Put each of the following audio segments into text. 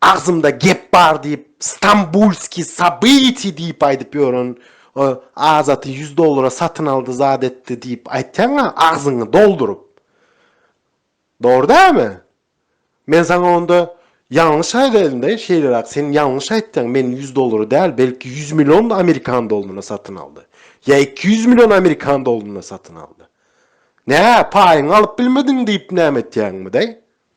Agzymda gep bar diýip Stambulskiý sobytiý diýip aýdyp ýören o Azaty ýüz dollara satyn aldy zat etdi diýip aýtýaňa agzyňy dolduryp. Dogry dälmi? Men saňa onda ýalňyş aýdaýynda şeýleräk sen ýalňyş aýtýaň men ýüz dollara däl belki ýüz million amerikan doluna satyn aldy. Ýa iki ýüz million amerikan doluna satyn aldy. Nä paýyňy alyp bilmediň diýip näme etýäňmi daý?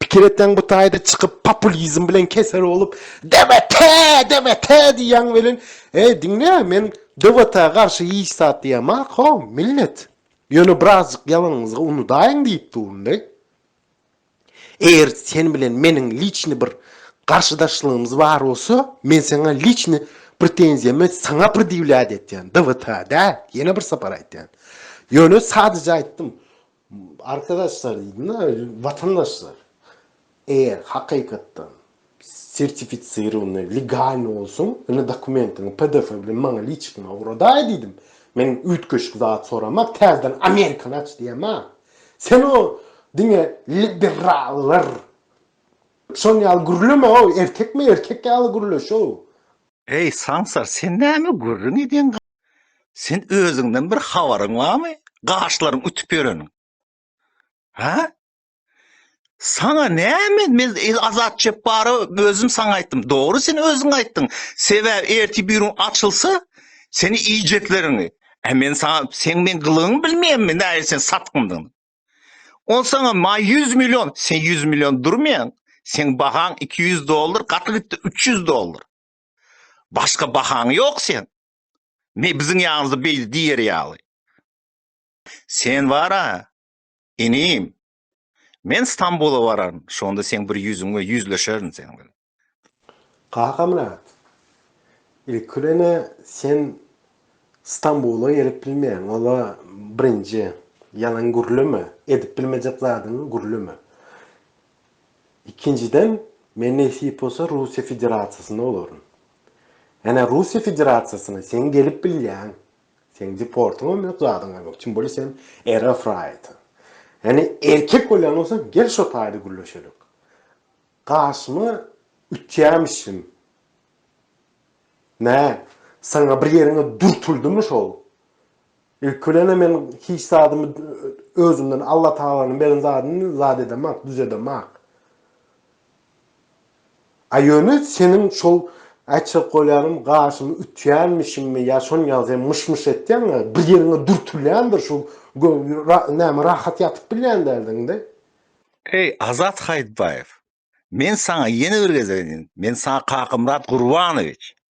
Pikir etseň bu taýda çykyp populizm bilen kesel bolup DBT, DBT diýýäň welin, eý diňle men DBT-a garşy hiç zat diýemok ho millet. Ýöne birazjyk ýalanyňyzgy unudaýyň diýip durun-da. Eger sen bilen meniň liçny bir garşydaşlygymyz bar bolsa, men saňa liçny pretenziýamy saňa predýewlýat etýän, DBT-a däl, ýene bir sapar aýtýan. Ýöne sadyja aýtdym, Arkadaşlar diýdim-de, watandaşlar, eger hakykatdan sertificirowanyý, legalnyý bolsaň, indi dokumentiňi pdf bilen maňa liçikime ugradaý diýdim. Men üýtgeşik zat soramak, täzeden amerikany aç diýemok. Sen o diňe liberallar şon ýaly gürleme-ow, erkekme-erkek ýaly gürle şow. Eý, saňsar, sen näme gürrüň edýäň? Sen özüňden bir habaryň barmy? Gaşlaryň ütüp ýöreniň. Ha? Saňa näme? Men Azat Çepbara özüm saňa aýtdym. Dogry sen özüň aýtdyň. Sebäbi erti birin açylsa, seni iýjekleriňi. E men saňa sen men gylygyňy bilmeýänmi? Näme sen satgyndyň? On saňa ma 100 million, sen 100 million durmaýaň. Sen bahaň 200 dollar, gaty gitdi 300 dollar. Başga bahaň ýok seň. Me biziň ýanymyzda beýle diýer ýaly. Sen bar-a, inim, men Stambula bararyn, şonda seň bir ýüzüňe ýüzleşerin sen bilen. Kakamyrat, ilki bilen-ä sen Stambula gelip bilmeýäň, ol-a birinji. Ýalan gürleme, edip bilmejek zadyňy gürleme. Ikinjiden, men nesip bolsa Russiýa Federasiýasynda bolaryn. Ene Russiýa Federasiýasyna seň gelip bilýäň. Seň deportyňam ýok, zadyňam ýok. Kim bolýa sen RF raýaty. Ene erkek bolýan bolsaň gel şo taýda gürleşeliň. Garşyma ütýämişin. Nä, saňa bir ýeriňe dürtüldimu şol? Ilki bilen-ä men hiç zadymy özümden, Alla tagalanyň beren zadyny zat edemak, düzedemak. A ýöne seniň şol aýtjak bolýanym gaşymy ütýänmişimmi ýa şony ýaly sen myş-myş etýäň-ä, bir ýeriňe dürtülýändir şu näme rahat ýatyp bilýän däldiň-de. Eý, Azat Haýytbaýew, men saňa ýene bir gezek edýän, men saňa Kakamyrat Gurbanowiç,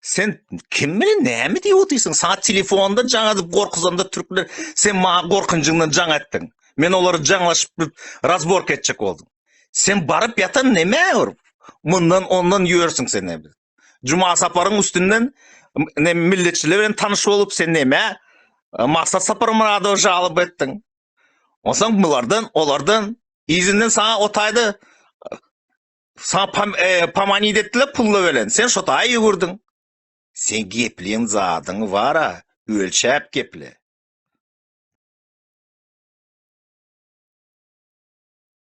Sen kim bilen näme diýip otyrsyň? Sa telefonda jaň edip gorkuzanda türkler sen maňa gorkunjyňdan jaň etdiň. Men olary jaňlaşyp razbork etjek oldum. Sen baryp ýatan näme ur? Mundan ondan ýörsiň sen näme? Juma saparyň üstünden ne milletçiler bilen tanyş bolup sen näme? Maksat sapar Muradow jalyp etdiň. Onsoň bulardan, olardan izinden saňa otaýda Sa pam, e, pamanid etdiler pulla belen. Sen şo taý ýüwürdiň. Sen gepleýän zadyňy bara ölçäp geple.